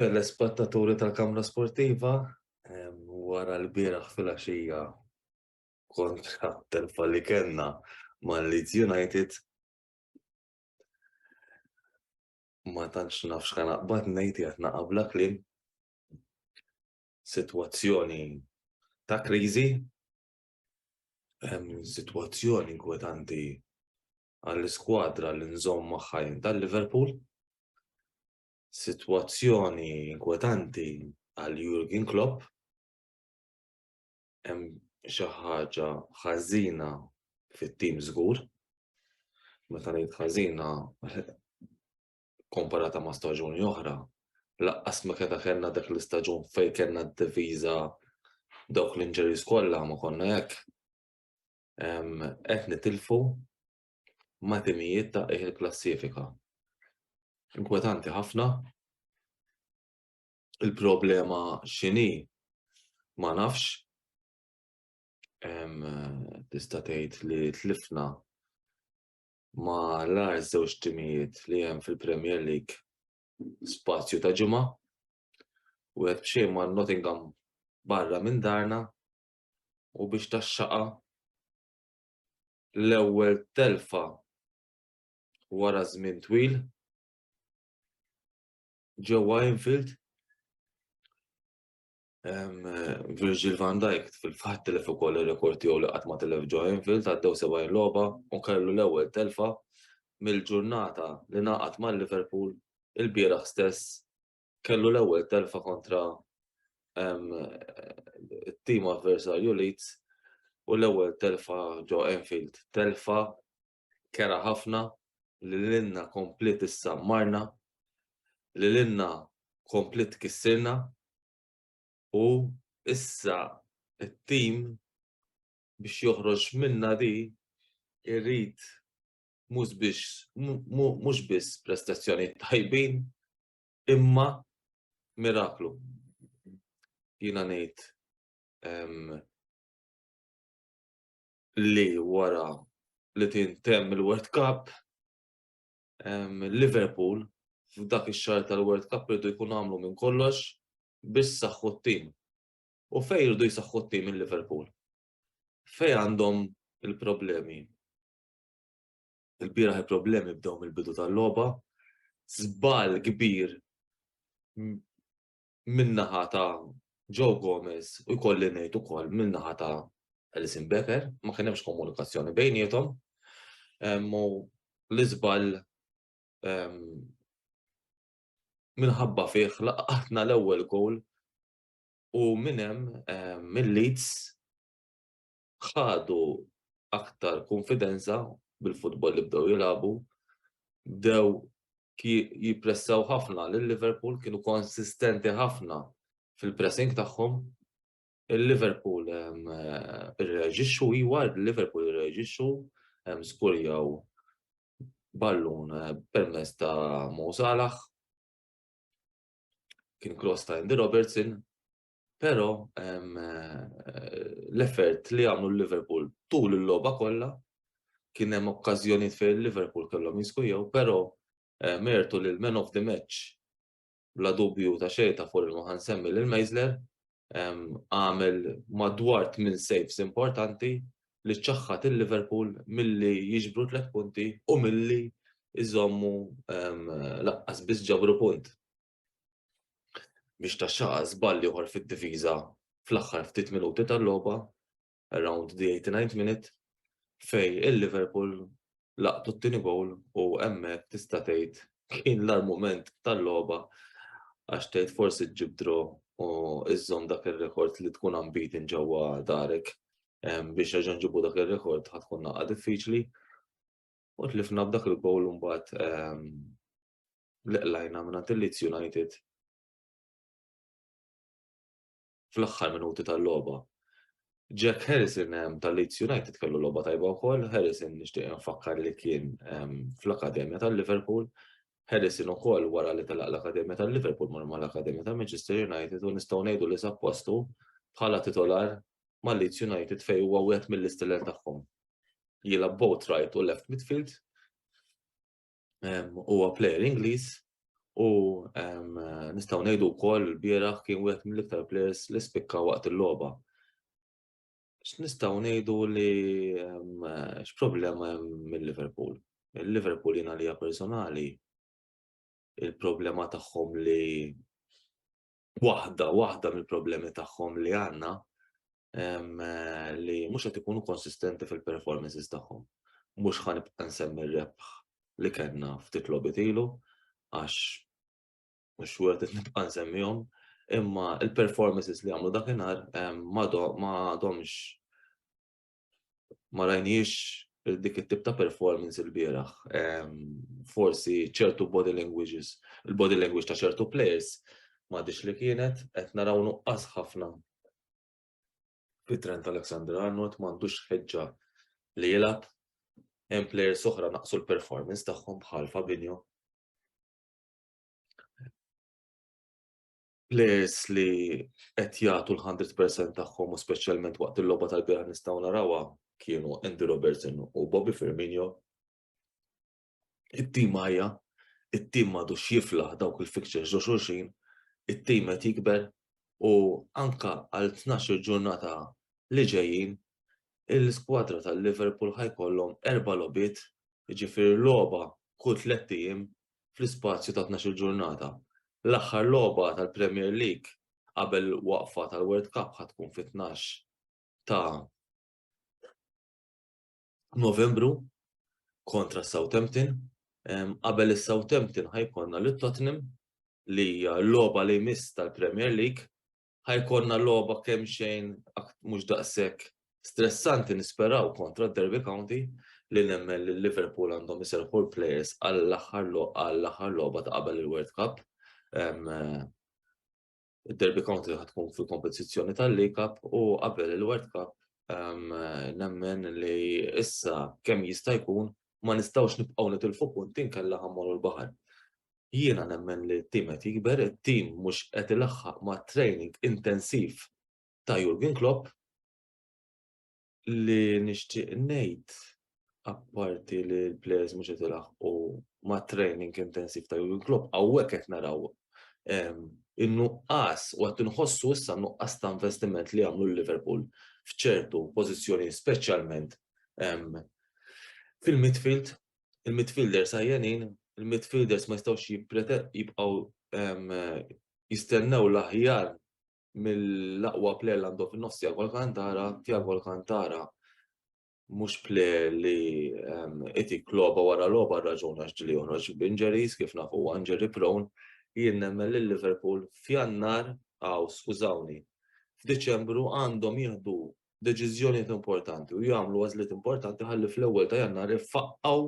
Telespettaturi tal-Kamra Sportiva, wara l-bieraħ filgħaxija kontra telfa li kellna ma' Leeds United, ma tantx nafx kan aqbad ngħid qiegħed naqa' bla kliem. Sitwazzjoni ta' kriżi, sitwazzjoni inkwetanti għall-iskwadra li nżomm magħha jien ta' Liverpool. Sitwazzjoni inkwetanti għal Jurgen Klopp. Hemm xi ħaġa ħażina fit-tim żgur. Meta ngħid ħażina komparata ma' staġuni oħra, laqqas ma keda kellna dak l-istaġun fejn kellna d-diviża dawk l-injuries kollha ma konna hekk. qed nitilfu ma' timijiet ta' qiegħ il-klassifika. Inkwetanti ħafna. Il-problema x'inhi ma nafx. Tista' tgħid li tlifna ma' l-agħar żewġ timijiet li hemm fil-Premier League spazju ta' ġimgħa. Wieħed b'xejn ma' Nottingham barra minn darna u biex taxxaqha l-ewwel telfa wara żmien twil ġewwa Anfield. Virgil van Dijk fil-fatt telef ukoll ir-rekord tiegħu li qatt ma telef ġo Anfield għaddew 70 logħba u kellu l-ewwel telfa mill-ġurnata li naqat mal-Liverpool il-bieraħ stess kellu l-ewwel telfa kontra it-tim avversarju Leeds u l-ewwel telfa ġo Enfield. Telfa kera ħafna li l-inna komplit issa marna, li l-inna komplit kissirna u issa it-tim biex joħroġ minna di irrid mhux biss prestazzjoni tajbin, imma miraklu. Jiena ngħid li wara li tintemm il-World Cup, Liverpool f'dak ix-xahar tal-World Cup irdu jkun għamlu minn kollox biex saħħu t-tim. U fejn irdu jsaħħu t-tim il-Liverpool? Fejn għandhom il-problemi? Il-bieraħ il-problemi bdew mill-bidu tal-logħba. Żball kbir min-naħa ta' Joe Gomez u jkolli ngħid ukoll min-naħa ta' Alison Becker, ma kien hemmx komunikazzjoni bejnietom. U l-iżball minħabba fih laqatna l-ewwel goal u minn hemm mill-Leeds ħadu aktar kunfidenza bil-futbol li bdew jilagħbu, bdew jippressaw ħafna lil Liverpool kienu konsistenti ħafna fil-pressing tagħhom. Il-Liverpool irreġixxu iwa, il-Liverpool irreġixxu skurjaw ballun eh, permess ta' Mo Salah, kien cross ta' Andy Robertson, Però l-effort li għamlu l-Liverpool tul il-logħba kollha kien hemm okkażjonijiet fejn il-Liverpool kellhom jiskujjaw, però mertu lil man of the match bla dubju ta' xejn ta' fuq ma ħansemmi lil Meisler għamel madwar tmien saves importanti li ċaħħad il-Liverpool milli jiġbru tliet punti u milli jżommu laqqas biss ġabru punt. biex ta' xaqa żball ieħor fid-difiża fl-aħħar ftit minuti tal-logħba, around the 89th minute, fej il-Liverpool laqtu t-tieni gowl u hemmhekk tista' tgħid kien l-argument tal-logħba għax tgħid forsi ġib dro u iżżomm dak ir-rekord li tkun unbeaten ġewwa darek biex reġa' nġibu dak ir-rekord ħatkun naqgħa diffiċli. U tlifna b'dak il-gowl mbagħad li qlajna mingħand il-Leeds United fl-aħħar minuti tal-logħba. Jack Harrison ehm, tal-Leeds United kellu logħba tajba wkoll, Harrison nixtieq nfakkar li kien ehm, fl-Akademja tal-Liverpool, Harrison ukoll wara li telaq l-Akademja tal-Liverpool mar mal-Akademja ta' Manchester United u nistgħu ngħidu li sappostu bħala titolar ma' Leeds United fej huwa wieħed mill-isteller tagħhom. Jilab both right u left midfield. huwa plejer Ingliż u nistgħu ngħidu wkoll il-bieraħ kien wieħed mill-iktar plejers li spikka waqt il-logħba. X'nistgħu ngħidu li x'problema hemm mill-Liverpool? Il-Liverpool jiena li personali il-problema tagħhom li waħda, waħda mill-problemi tagħhom li għandna li mhux qed ikunu konsistenti fil-performances tagħhom. Mhux ħa nibqa' nsemmi rebħ li kellna ftit logħbiet ilu għax mhux wieħed qed nibqa' nsemmihom, imma il-performances li għamlu dakinhar ma domx ma rajniex dik it-tip ta' performance il-bieraħ. Forsi ċertu body languages, il-body language ta' ċertu players ma dix li kienet, qed naraw nuqqas ħafna fit-trend Alexander Arnold m'għandux ħeġġa li jilgħab hemm players oħra naqsu l-performance tagħhom bħal Fabinho. players li qed jagħtu l-100% tagħhom u speċjalment waqt il-logħba tal-bira nistgħu narawha kienu Andy Robertson u Bobby Firmino. It-tim ħajja, it-tim madu xiflaħ dawk il-fixtures ġo xulxin, it-tim qed jikber u anka għal 12 ġurnata li ġejjin il-skwadra tal-Liverpool ħajkollhom erba' lobit, jiġifieri logħba kull tliet ijiem fl-ispazju ta' tnax-il ġurnata. L-aħħar logħba tal-Premier League qabel il-waqfa tal-World Cup ħa tkun fit-tnax ta' Novembru kontra Southampton. Qabel is-Southampton ħa jkollna lit-Tottenham li hija l-logħba li jmiss tal-Premier League ħajkonna logħba kemm xejn mhux daqshekk stressanti nisperaw kontra d-Derby County li nemmen li Liverpool għandhom iserħu l-players għall-aħħar għall-aħħar logħba ta' qabel il-World Cup. Id-Derby County ħatkun fil-kompetizzjoni tal-League Cup u qabel il-World Cup nemmen li issa kemm jista' jkun ma nistgħux nibqgħu nitilfu punti nkella ħammorru l-baħar. Jiena nemmen li t-tim qed jikber, it-tim mhux qed ilaħħaq mat-training intensiv ta' Jurgen Klopp. Li nixtieq ngħid apparti li l-players mhux qed ilaħħqu mat-training intensiv ta' Jurgen Klopp, hawnhekk qed naraw in-nuqqas u qed inħossu issa n-nuqqas ta' investiment li għamlu l-Liverpool f'ċertu pożizzjonijiet speċjalment fil-midfield il-midfielders għajjenin, il-midfielders ma jistgħux jibqgħu jistennew l-aħjar mill-aqwa player li għandhom fin-nofs Tiago Alcantara, Tiago Alcantara mhux player li qed jikloba wara logħba raġun għax ġili joħroġ b'injuries kif nafu huwa injury prone, jien nemmen lil Liverpool f'Jannar, aw skużawni, f'Diċembru għandhom jieħdu deċiżjonijiet importanti u jagħmlu għażliet importanti ħalli fl-ewwel ta' jannar ifaqqgħu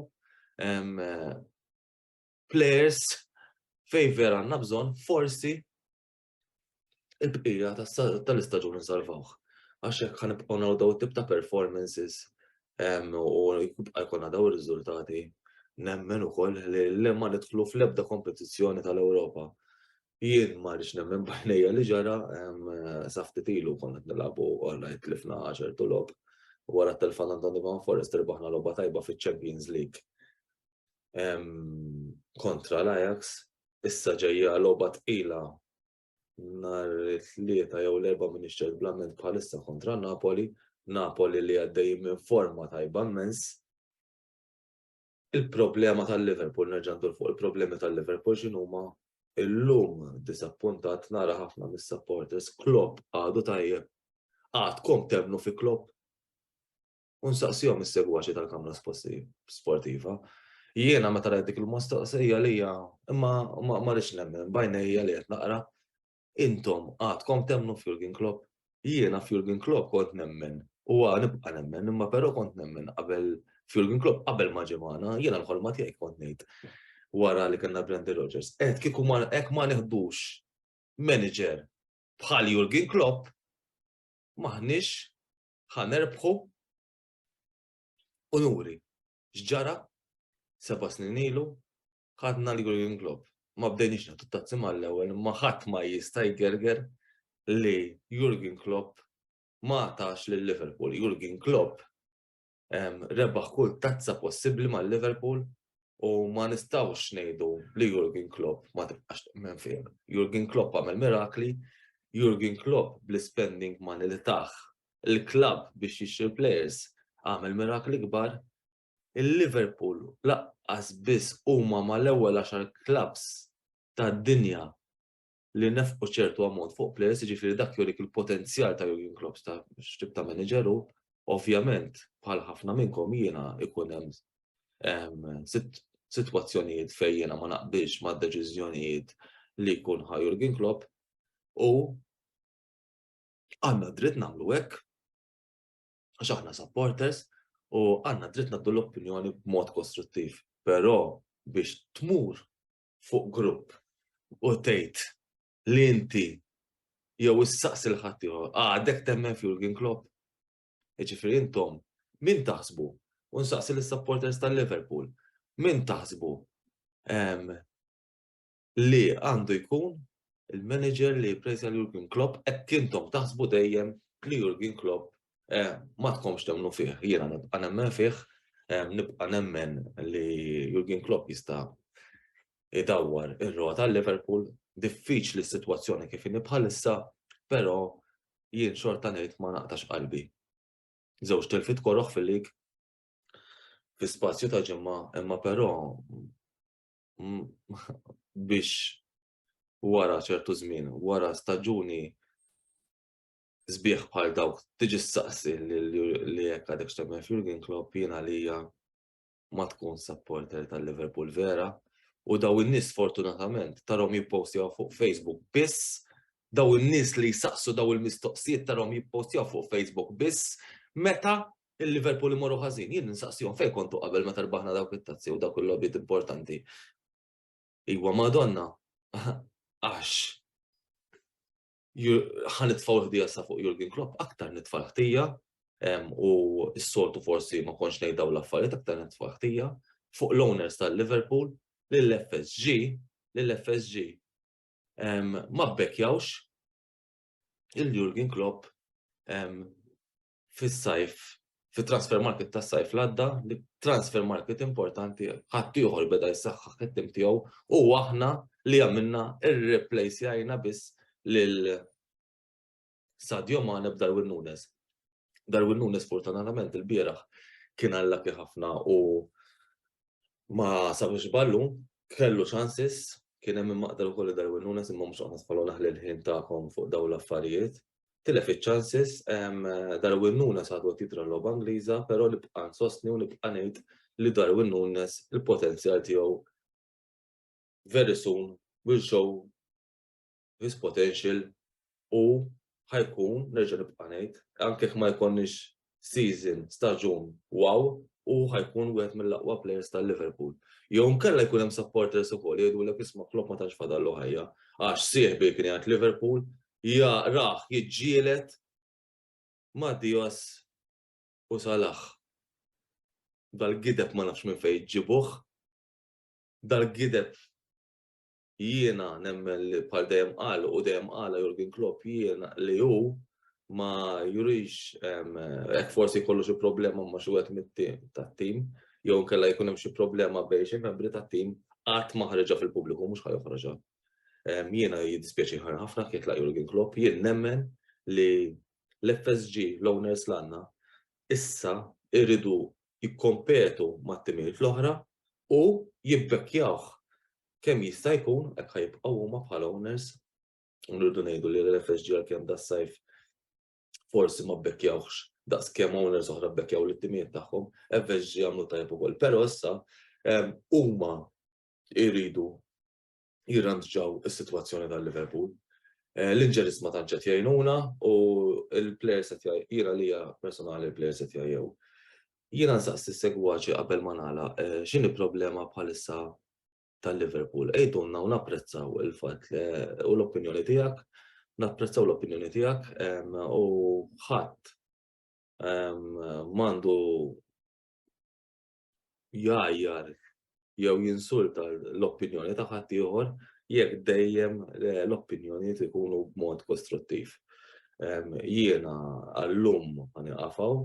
players fej vera għandna bżonn forsi il-bqija tal-istaġun nsalvawh. Għax hekk ħan nibqgħu naraw daw tip ta' performances u jibqa' jkollna daw ir-riżultati nemmen ukoll li l-lemma nidħlu fl-ebda kompetizzjoni tal-Ewropa Jien ma rridx nemmen bajnejja li ġara safti tilu konna qed nilagħbu għalna jitlifna għaxar tulob. Wara t-telfan Antoni Van Forest irbaħna logħba tajba fiċ-Champions League kontra l-Ajax. Issa ġejja logħba tqila nhar it-tlieta jew l-erba' minn ix-xejn blament bħalissa kontra Napoli. Napoli li għaddej minn forma tajba mmens. Il-problema tal-Liverpool, nerġa' ndur fuq il-problemi tal-Liverpool x'inhuma, illum diżappuntat nara ħafna mis-supporters Klopp għadu tajjeb. Għadkom temmnu fi Klopp? U nsaqsihom is-segwaċi tal-Kamra Sportiva. Jiena meta rajt dik il-mostaqsija li hija imma ma rridx nemmen bajnejja li qed naqra Intom għadkom temmnu f'Jurgen Klopp? Jiena f'Jurgen Klopp kont nemmen u għad nibqa' nemmen imma però kont nemmen qabel f'Jurgen Klopp qabel ma ġie magħna, jiena l-ħolma tiegħi kont ngħid wara li kellna Brendan Rodgers. Qed kieku hekk ma neħdux manager bħal Jurgen Klopp maħniex ħanerbħu unuri. X'ġara seba' snin ilu ħadna l-Jurgen Klopp. Ma bdejniex nagħtu tazzi mal-ewwel, ma ħadd ma jista' jgerger li Jurgen Klopp ma tax lil Liverpool. Jurgen Klopp rebaħ kull tazza possibbli mal Liverpool u ma nistawx ngħidu li Jurgen Klopp ma tibqax temmen fih. Jurgen Klopp għamel mirakli, Jurgen Klopp bl-spending money li taħ il-klab biex jixtri players għamel mirakli kbar Il-Liverpool lanqas biss huma mal-ewwel għaxar klabbs tad-dinja li nefqu ċertu ammont fuq plejers, jiġifieri dak jurik il-potenzjal ta' Jurgen Klopp ta' x'tip ta' manager hu. Ovvjament, bħal ħafna minnkom jiena ikun hemm sitwazzjonijiet fejn jiena ma naqbilx mad-deċiżjonijiet li jkun ħa Jurgen Klopp u għandna dritt nagħmlu hekk. għax aħna supporters u għandna dritt naddu l-opinjoni b'mod kostruttiv. Però biex tmur fuq grupp u tgħid li inti jew issaqsi l ħadd ieħor għadek ah, temmen f'Jurgen Klopp. Jiġifieri intom min taħsbu u nsaqsi lis-supporters tal-Liverpool min taħsbu li għandu jkun il-manager li jipprejża lil Jurgen Klopp hekk intom taħsbu dejjem li Jurgen Klopp ma tkomx temmnu fih. Jiena nibqa' nemmen fih, nibqa' nemmen li Jurgen Klopp jista' idawwar ir-rota Liverpool, diffiċli s-sitwazzjoni kif inhi bħalissa, però jien xorta ngħid ma naqtax qalbi. Żewġ tilfit koroħ fil-lig fi spazju ta' ġimgħa, imma però biex wara ċertu żmien, wara staġuni sbieħ bħal dawk tiġi s-saqsi li jekk għadek xtemmen Jurgen Klopp jina li ma tkun supporter tal-Liverpool vera u daw in-nies fortunatament tarom jippostjaw fuq Facebook biss daw in-nies li jsaqsu daw il-mistoqsijiet tarom jippostjaw fuq Facebook biss meta il-Liverpool imorru ħażin, jien nsaqsihom fejn kontu qabel meta rbaħna dawk it-tazzi u dawk il-logħbiet importanti. Iwa Madonna, għax ħan nitfaw ħdija sa fuq Jurgen Klopp, aktar nitfa ħtija u s-soltu forsi ma konx nejdaw l-affarijiet aktar nitfa ħtija fuq l-owners tal-Liverpool lill-FSG, lill-FSG ma bbekjawx il-Jurgen Klopp fis-sajf, fit-transfer market tas-sajf li għadda, li transfer market importanti ħaddieħor beda jsaħħaħ it-tim tiegħu u aħna li għamilna irreplejsjajna biss lil Sadio Mane b'Darwin Nunes. Darwin Nunes fortunatament il-bieraħ kien allaki ħafna u ma sabiex ballu, kellu ċansis, kien hemm maqdar ukoll Darwin Nunes imma mhux aħna spallu naħli l-ħin tagħkom fuq dawn l-affarijiet. tilef iċ-chances, Darwin Nunes għadu qed jidhra l-logħba Ingliża, però nibqa' nsostni u nibqa' ngħid li Darwin Nunes il-potenzjal tiegħu very soon will show his potential u ħa jkun, nerġa' nibqa' ngħid, anke jekk ma jkollniex season, staġun wow u hu ħajkun wieħed mill-aqwa players ta' Liverpool. Jew nkella jkun hemm supporters ukoll jgħidulek isma' Klopp ma tantx fadallu ħajja għax sieħbi kien jgħid Liverpool ja rah jiġġielet ma' Dios u Salah. Dal-gideb ma nafx minn fejn ġibuh. Dal-gideb jiena nemmen li bħal dejjem qal u dejjem qala Jurgen Klopp jiena li hu ma jurix hekk forsi jkollu xi problema ma xi wieħed mit-tim tat-tim jew nkella jkun hemm xi problema bejn xi membri tat-tim qatt ma ħareġha fil-pubbliku mhux ħajoħroġha. Jiena jiddispjaċi ħafna kif jitlaq Jurgen Klopp jien nemmen li l-FSG l-owners l-għandna issa irridu jikkompetu mat-timijiet l-oħra u jibbekkjawh kemm jista' jkun hekk ħa jibqgħu huma bħala owners u nridu ngħidu li l-FSG għalkemm das-sajf forsi ma bbekkjawx daqs kemm owners oħra bbekkjaw l-ittimijiet tagħhom, FSG għamlu tajjeb ukoll. Però issa ehm, huma jridu jirrandġaw is-sitwazzjoni tal-Liverpool. Eh, L-inġeris ma tanċet jgħinuna u l-players qed jira li personali l-players qed jgħajjew. Jiena nsaqsi s-segwaċi qabel ma nagħlaq x'inhi problema bħalissa tal-Liverpool. Ejdunna u napprezzaw il-fatt u l-opinjoni tiegħek, napprezzaw l-opinjoni tiegħek u ħadd mandu jajjar jew jinsulta l-opinjoni ta' ħadd ieħor jekk dejjem eh, l-opinjonijiet ikunu b'mod kostruttiv. Jiena għallum għani għafaw,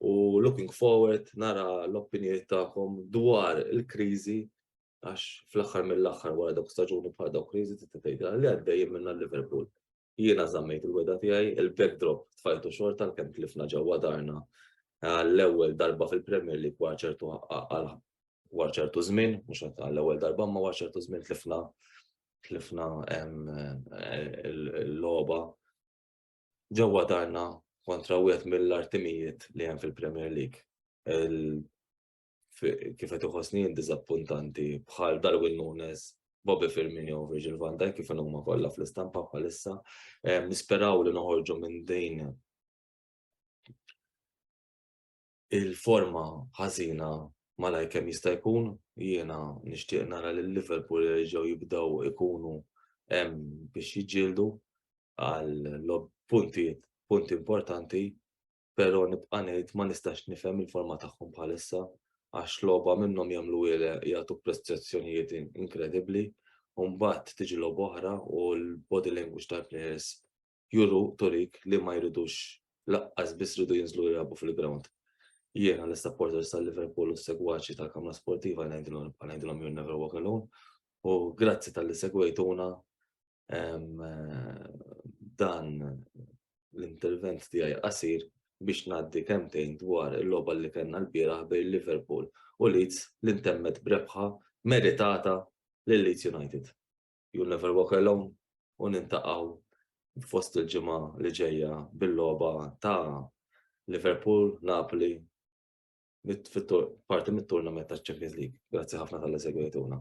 u looking forward nara l-opinjoni tagħkom dwar il-kriżi għax fl-aħħar mill-aħħar wara dawk staġuni bħal dawk kriżi tista' tgħidha li għaddej minna Liverpool. Jiena żammejt il-weda tiegħi, il-backdrop tfajtu xorta l-kemm tlifna ġewwa darna eh, l-ewwel darba fil-Premier League wara ċertu wara ċertu żmien, mhux għall-ewwel darba ma wara ċertu żmien tlifna tlifna eh, l-logħba ġewwa darna kontra wieħed mill-artimijiet li hemm fil-Premier League. Kif qed iħossni diżappuntanti bħal Darwin Nunes, Bobby Firmino u Virgil van Dijk kif huma kollha fl-istampa bħalissa. Nisperaw li noħorġu minn din il-forma ħażina malajr kemm jista' jkun. Jiena nixtieq nara lil Liverpool jerġgħu jibdew ikunu hemm biex jiġġieldu għal punti punti importanti, però nibqa' ngħid ma nistax nifhem il-forma tagħhom bħalissa għax logħba minnhom jagħmlu jagħtu prestazzjonijiet inkredibbli u mbagħad tiġi logħba oħra u l-body language tal-players juru turik li ma jridux laqqas biss jridu jinżlu jilagħbu fil-ground. Jiena l-supporters tal-Liverpool u segwaċi tal-Kamra Sportiva ngħidilhom you'll never walk alone u grazzi tal-li segwejtuna dan l-intervent tiegħi qasir biex ngħaddi kemtejn dwar il-logħba li kellna l-bieraħ bejn Liverpool u Leeds li ntemmet brebħa meritata lil Leeds United. You'll Never Walk Alone u nintaqgħu fost il-ġimgħa li ġejja bil-logħba ta' Liverpool, Napoli, parti mit-turnament ta' Champions League. Grazzi ħafna tal segwejtuna.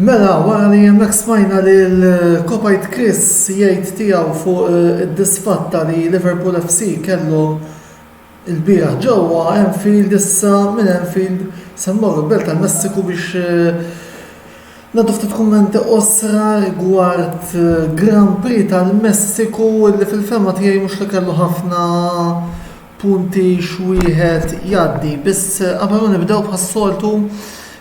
Mela, wara li hemmhekk smajna lil Kopajt Chris jgħid tiegħu fuq eh, id-disfatta li Liverpool FC kellu il-bieraħ ġewwa Enfield issa minn Enfield se mmorru belt tal-Messiku biex eh, Ngħaddu ftit kummenti qosra rigward Grand Prix tal-Messiku li fil-fehma tiegħi mhux li kellu ħafna punti x'wieħed jgħaddi. Biss qabel ma nibdew bħas-soltu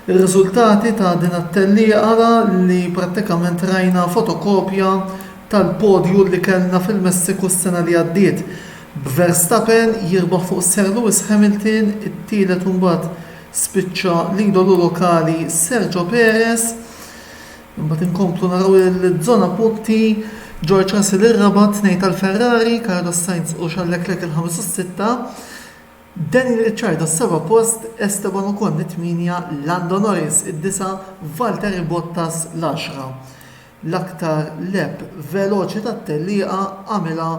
ir-riżultati ta' din it-tellieqa ara li prattikament rajna fotokopja tal-podju li kellna fil-Messiku s-sena li għaddiet b'Verstappen jirbaħ fuq Sir Lewis Hamilton, it-tielet u mbagħad Spiċċa l-idolu lokali Sergio Perez. Imbagħad inkomplu naraw il-żona punti George Russell ir-raba' tnejn tal-Ferrari, Carlos Sainz u Charles Leclerc il-ħames u s-sitta, Daniel Ricciardo s-seba' post, Esteban Ocon it-tmienja, Lando Norris id-disa', Valtteri Bottas l-għaxra. L-aktar leb veloċi tat-tellieqa għamilha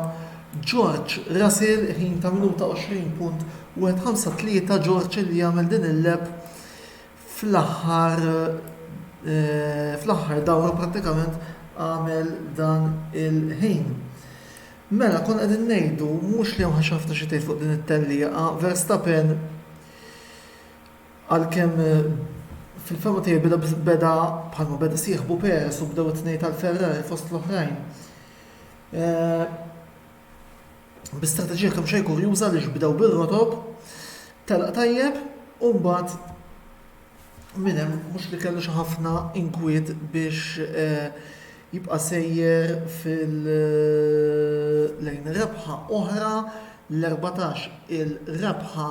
George Russell, ħin ta' minuta 20.153 George li għamel din il-leb fl-aħħar fl-aħħar dawra prattikament għamel dan il-ħin. Mela konna qegħdin ngħidu mhux li hemm ħafna xi tgħid fuq din it-tellieqa, Verstappen Għalkemm fil-fehma tiegħi beda beda bħalma beda sieħbu Perez u bdew it-tnejn tal-Ferrari fost l-oħrajn. Eh, bi strateġija kemm xejn kurjuża li bdew bir-rotob, telaq tajjeb u mbagħad minn hemm mhux li kellu xi ħafna inkwiet biex eh, jibqa' sejjer fil-lejn eh, rebħa oħra l-14 il-rebħa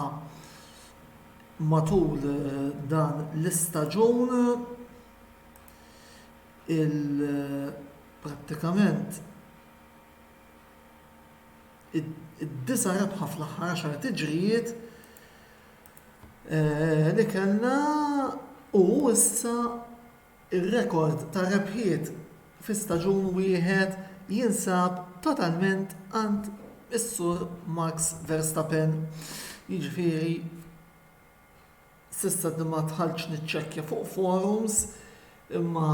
Matul dan l-istaġun il-prattikament id-disa' rebħa fl-aħħar għaxar tiġrijiet li kellna u issa Ir-rekord ta' rebħiet fi staġun wieħed jinsab totalment għand is-Sur Max Verstappen, jiġifieri s'issa ma dħaltx niċċekkja fuq forums imma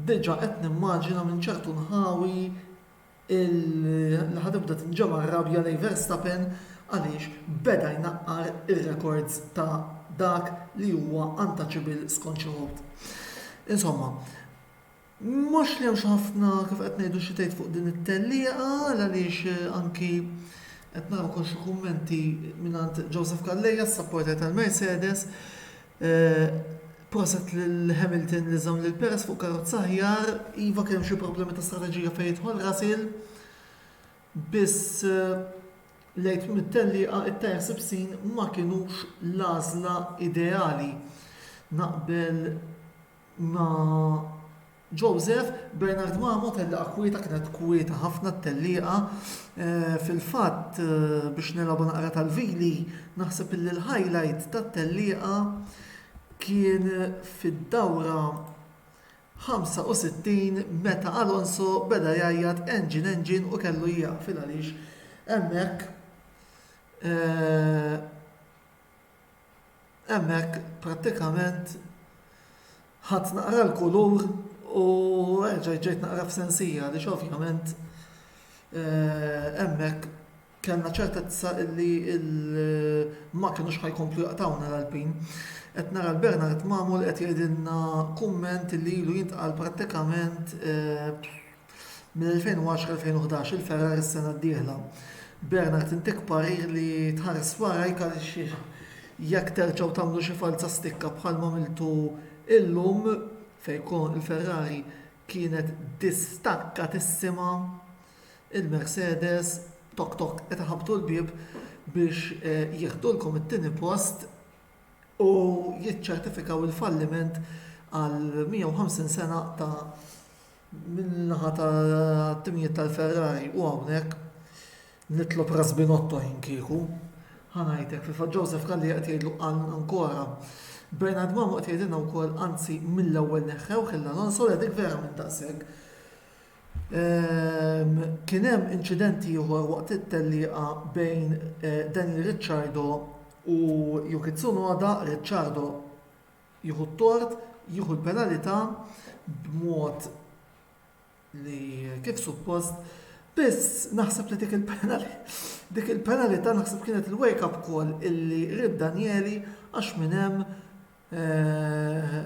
diġa' qed nimmaġina minn ċertu nħawi li ħa tibda tinġema' r-rabja lejn Verstappen għaliex beda jnaqqar ir-rekords ta' dak li huwa untouchable skont xi wħud. Insomma, mhux li hemm xi ħafna kif qed ngħidu xi tgħid fuq din it-tellieqa għaliex eh, anki qed naraw ukoll xi kummenti mingħand Joseph Calleja, s-supporter tal-Mercedes, Proset lil Hamilton li żamm lil Perez fuq karozza aħjar. Iva kien hemm xi problemi ta' strateġija fejn jidħol Russell. Biss lejt mit-tellieqa it-tajer sibsin ma kinux l-għażla ideali. Naqbel ma' Joseph, Bernard Mamo tellieqa kwieta kienet kwieta ħafna t-tellieqa. Fil-fatt biex nilgħabu naqra tal-vili naħseb illi l-highlight tat-tellieqa kien fid-dawra 65 meta Alonso beda jgħajjat engine engine u kellu jieqaf il-għaliex hemmhekk hemmhekk prattikament ħadt naqra l-kulur u erġajt ġejt naqra f'sensija għaliex ovvjament hemmhekk kellna ċertezza li ma kinux ħa jkomplu jaqtgħuna l-Alpin. Qed nara l-Bernard Mamul qed jgħidilna kumment li ilu jintqal prattikament Mill-2010-2011 il-fergħa ris-sena d-dieħla. Bernard tintik parir li tħares warajk għaliex jekk terġgħu tagħmlu xi falza stikka bħalma għamiltu illum fejn il-Ferrari kienet distakkatissima il-Mercedes tok tok qed iħabbtu l-bieb biex jieħdulkom it-tieni post u jiċċertifikaw il-falliment għal 150 sena ta' min-naħa tat-timijiet tal-Ferrari u hawnhekk nitlob Ras Binotto jien kieku. Ħa ngħidlek, fil-fatt Joseph Calli qed jgħidlu qal ankora. Bernard Mamu qed jgħidilna wkoll anzi mill-ewwel neħħewh il Alonso le dik vera minn daqshekk. Ehm, kien hemm inċident ieħor waqt it-tellieqa bejn eh, Daniel Ricciardo u Yuki Tsunoda, Ricciardo jieħu t-tort, jieħu l-penalità b'mod li kif suppost, biss naħseb li dik dik il-penalità naħseb kienet il-wake up call illi ried Danieli għax minn hemm eh,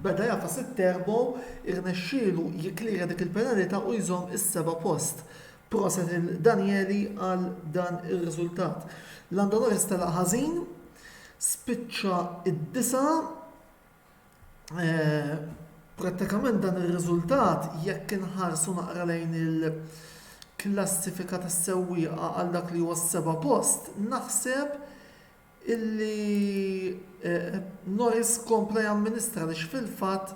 beda jafas it-terbo irnexxielu jiklira dik il-penalità u jżomm is-seba' post. Proset lil Danieli għal dan ir-riżultat. Landonoris telaq ħażin, spiċċa id-disa' eh, prattikament dan ir-riżultat jekk inħarsu naqra lejn il-klassifika tas-sewwieqa għal dak li huwa s-seba' post, naħseb Il-Noise kompla jamministra għaliex fil-fatt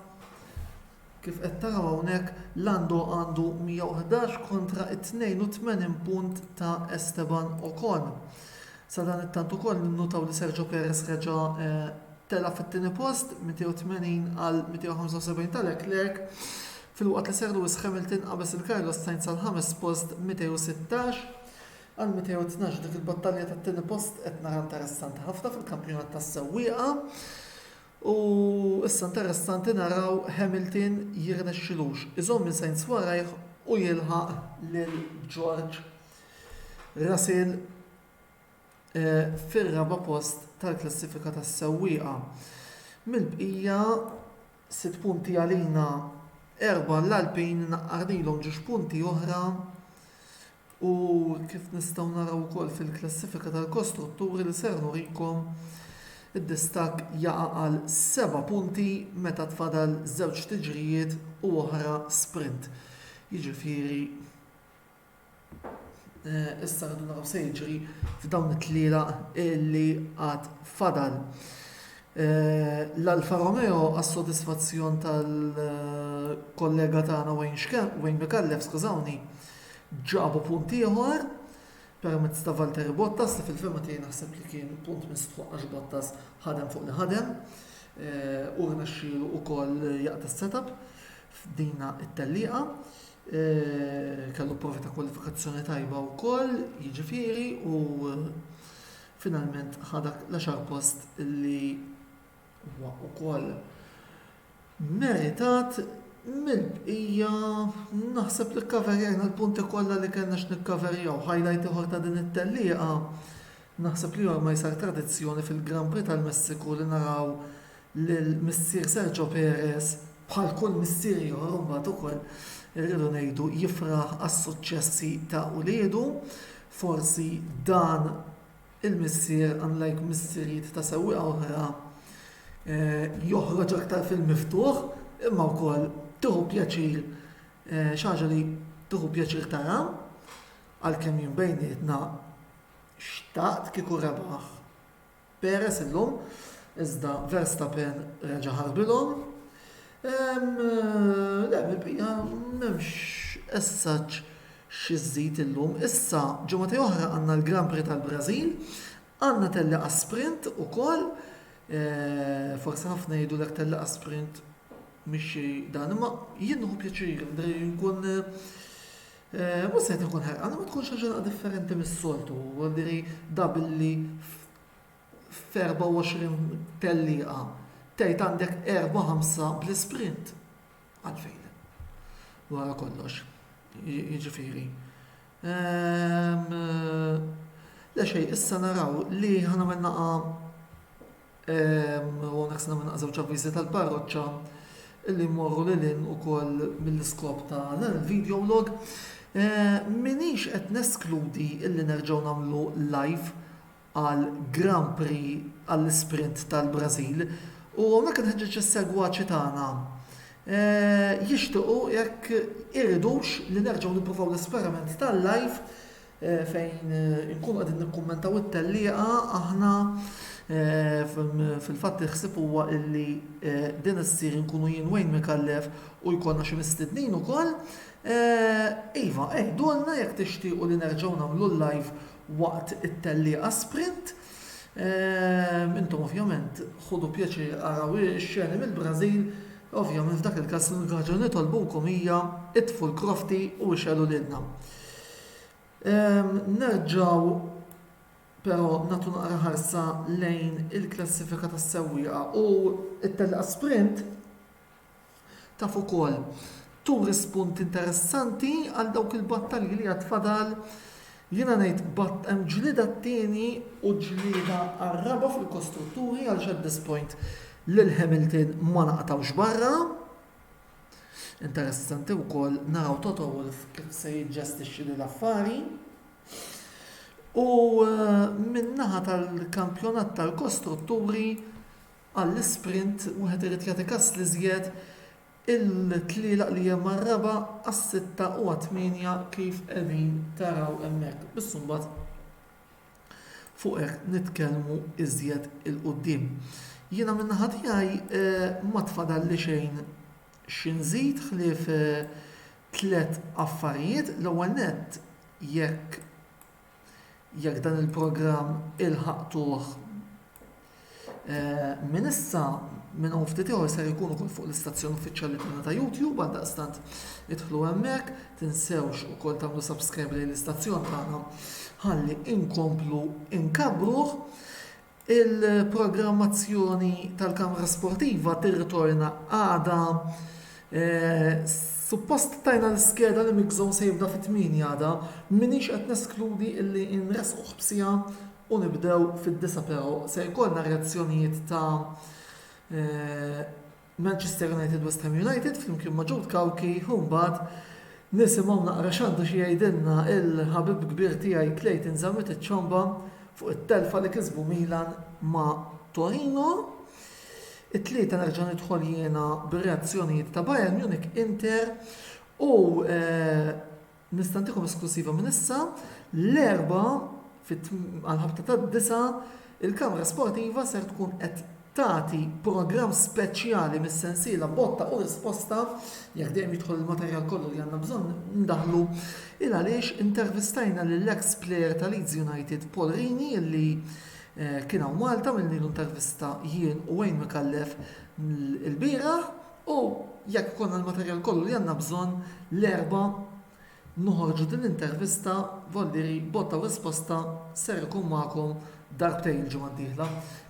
kif qed taraw hawnhekk Lando għandu 111 kontra t-82 punt ta' Esteban Ocon. Sadanittant ukoll ninnutaw li Sergio Perez reġa' tela' fit-tieni post, 280 għal 275 ta' Leclerc, filwaqt li Sir Lewis Hamilton qabeż lil Carlos Sainz għall-ħames post b'216. Għal 212 dik il-battalja tat-tieni post qed nara interessanti ħafna fil-kampjonat tas-sewwieqa u issa interessanti naraw Hamilton jirnexxilux iżomm lil Sainz warajh u jilħaq lil George Russell eh, fir-raba' post tal-klassifika tas-sewwieqa. Mill-bqija sitt punti għalina erba' l-Alpin naqqardilhom ġiex punti oħra u kif nistgħu naraw ukoll fil-klassifika tal-kostrutturi li ser nurikom, id-distakk jaqa' għal seba' punti meta tfadal żewġ tiġrijiet u oħra sprint. Jiġifieri eh, issa rridu naraw se jiġri f'dawn it-tliela li għad fadal. Eh, L-Alfa Romeo għas-sodisfazzjon tal-kollega tagħna Wayne Wayne Mikallef, skużawni, Ġabu punt ieħor permezz ta' Valtteri Bottas li fil-fehma tiegħi naħseb li kien punt mistħoqq għax Bottas ħadem fuq li ħadem u rnexxielu wkoll jaqta' s-setup f'dina t-tellieqa. Kellu provi ta' kwalifikazzjoni tajba wkoll, jiġifieri u finalment ħadak l-għaxar post li Huwa wkoll meritat mill-bqija, naħseb li kkaverjajna l-punti kollha li kellna x'nikkaverjaw. Highlight ieħor ta' din it-tellieqa naħseb li ormai sar tradizzjoni fil-Grand Prix tal-Messiku li naraw lil missier Sergio Perez, bħal kull missier ieħor imbagħad ukoll irridu ngħidu jifraħ għas-suċċessi ta' uliedu. Forsi dan il-missier, unlike missirijiet ta' sewwieqa oħra, joħroġ aktar fil-miftuħ imma wkoll tieħu pjaċir xi ħaġa li tieħu pjaċir tara għalkemm jien bejnietna xtaqt kieku rebaħ Perez illum iżda Verstappen reġa' ħarbilhom. Le, mill-bqija m'hemmx as such Xi żżid illum? Issa, ġimgħatej oħra għandna l-Grand Prix tal-Brażil, għandna telliqa sprint ukoll, forsi ħafna jgħidulek telliqa sprint mhix xi dan, imma jien nieħu pjaċir, nkun mhux se nkun ħerqan, ma tkun xi ħaġa differenti mis-soltu, għandiri da billi f'24 telliqa tgħid għandek 4-5 bl-isprint. Għalfejn? Wara kollox. Jiġifieri. Ehm, le xej, issa naraw li ħanamel naqa' ehm, u għonek s-namel naqa' żewġ avviżi tal-parroċċa li morru li l-in u koll mill-iskop ta' dan il-video log. Eh, minix qed neskludi illi nerġaw namlu live għall-Grand Prix għall-Isprint tal-Brażil u hawnhekk inħeġġeġ is-segwaċi tagħna jixtiequ jekk iridux li nerġgħu nippruvaw l-esperiment tal-live eh, fejn eh, inkunu qegħdin nikkummentaw it-tellieqa aħna eh, fil-fatt iħsib huwa illi din issir inkunu jien Wayne Mikallef u jkollna xi mistednin ukoll. Iva, eħdulna jekk tixtiequ li nerġgħu nagħmlu l-live waqt it-tellieqa sprint. Intom ovvjament ħudu pjaċir araw ix-xeni mill-Brażil, ovvjament f'dak il-każ l-unika ħaġa li nitolbulkom hija itfu l-krofti u ixgħelu lilna. Nerġgħu però nagħtu naqra ħarsa lejn il-klassifika tas-sewwieqa u t-tellieqa sprint Taf ukoll turi spunt interessanti għal dawk il-battalji li għad fadal, jiena ngħid batt hemm ġlieda t-tieni u ġlieda għar-raba' fil-kostrutturi għaliex at this point lil Hamilton ma naqtgħux barra. Interessanti wkoll naraw Toto Wolff kif se jiġġestixxi lil affari. U eh, min-naħa tal-kampjonat tal-kostrutturi għall-isprint, wieħed irid jagħti kas l-iżjed il-tlielaq li hemm għar-raba', għas-sitta u għat-tmienja kif qegħdin taraw hemmhekk. Biss imbagħad fuq hekk nitkellmu iżjed 'il quddiem. Jiena min-naħa tiegħi eh, ma tfadalli xejn xi nżid ħlief eh, tliet affarijiet. L-ewwel nett jekk jekk dan il-programm ilħaqtuh minn issa minn hawn ftit ieħor ser ikun ukoll fuq l-istazzjon uffiċjali tagħna ta' YouTube għal daqstant idħlu hemmhekk, tinsewx ukoll tagħmlu subscribe lejn l-istazzjon tagħna ħalli inkomplu inkabruh. Il-programmazzjoni tal-kamra sportiva tirritorna għada. Suppost tajna l-iskeda li Mix Zone se jibda fit-tmienja għada. M'iniex qed neskludi li nressquh b'siegħa u nibdew fid-disgħa però se jkollna reazzjonijiet ta' Manchester United West Ham United flimkien ma' Jude Cauchi u mbagħad nisimgħu naqra x'għandu xi jgħidilna l-ħabib kbir tiegħi Clayton Zammit iċ-Ciomba fuq it-telfa li kisbu Milan ma' Torino. It-tlieta nerġa' nidħol jiena bir-reazzjonijiet ta' Bayern Munich Inter u eh, Nista' ntikom esklusiva minn issa, l-Erbgħa għall-ħabta tad-disgħa, il-Kamra Sportiva ser tkun qed tagħti programm speċjali mis-sensiela Botta u Risposta, jekk dejjem jidħol il-materjal kollu li għandna bżonn ndaħħlu, il għaliex intervistajna lill-eks plejer ta' Leeds United Paul Rini li kien hawn Malta, għamilnilu intervista jien u Wayne Micallef ilbieraħ. U jekk ikollna l-materjal kollu li għandna bżonn, l-Erbgħa noħorġu din l-intervista, Vollieri, botta u risposta ser ikun magħkom darbtejn il-ġimgħa d-dieħla,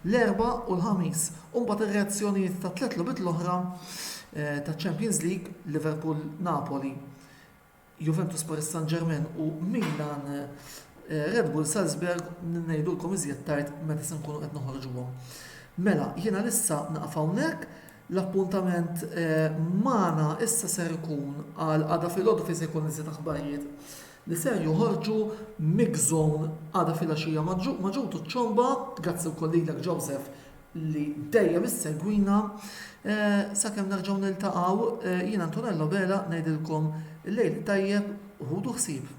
l-Erbgħa u l-Ħamis. U mbagħad ir-reazzjonijiet tat-tliet logħbiet l-oħra taċ-Champions League, Liverpool, Napoli, Juventus, Paris Saint-Germain u Milan, Red Bull Salzburg ngħidulkom iżjed tard meta se nkunu qed noħorġuhom. Mela, jiena lissa naqaf hawnhekk, l-appuntament magħna issa ser ikun għal għada filgħodu fejn se jkun iżjed aħbarijiet li ser joħorġu Mix Zone għada filgħaxija ma' ġutu ċomba, grazzi wkoll lilek Joseph li dejjem issegwina sakemm nerġgħu niltaqgħu jien Antonello Vela ngħidilkom lejl tajjeb u ħudu ħsieb.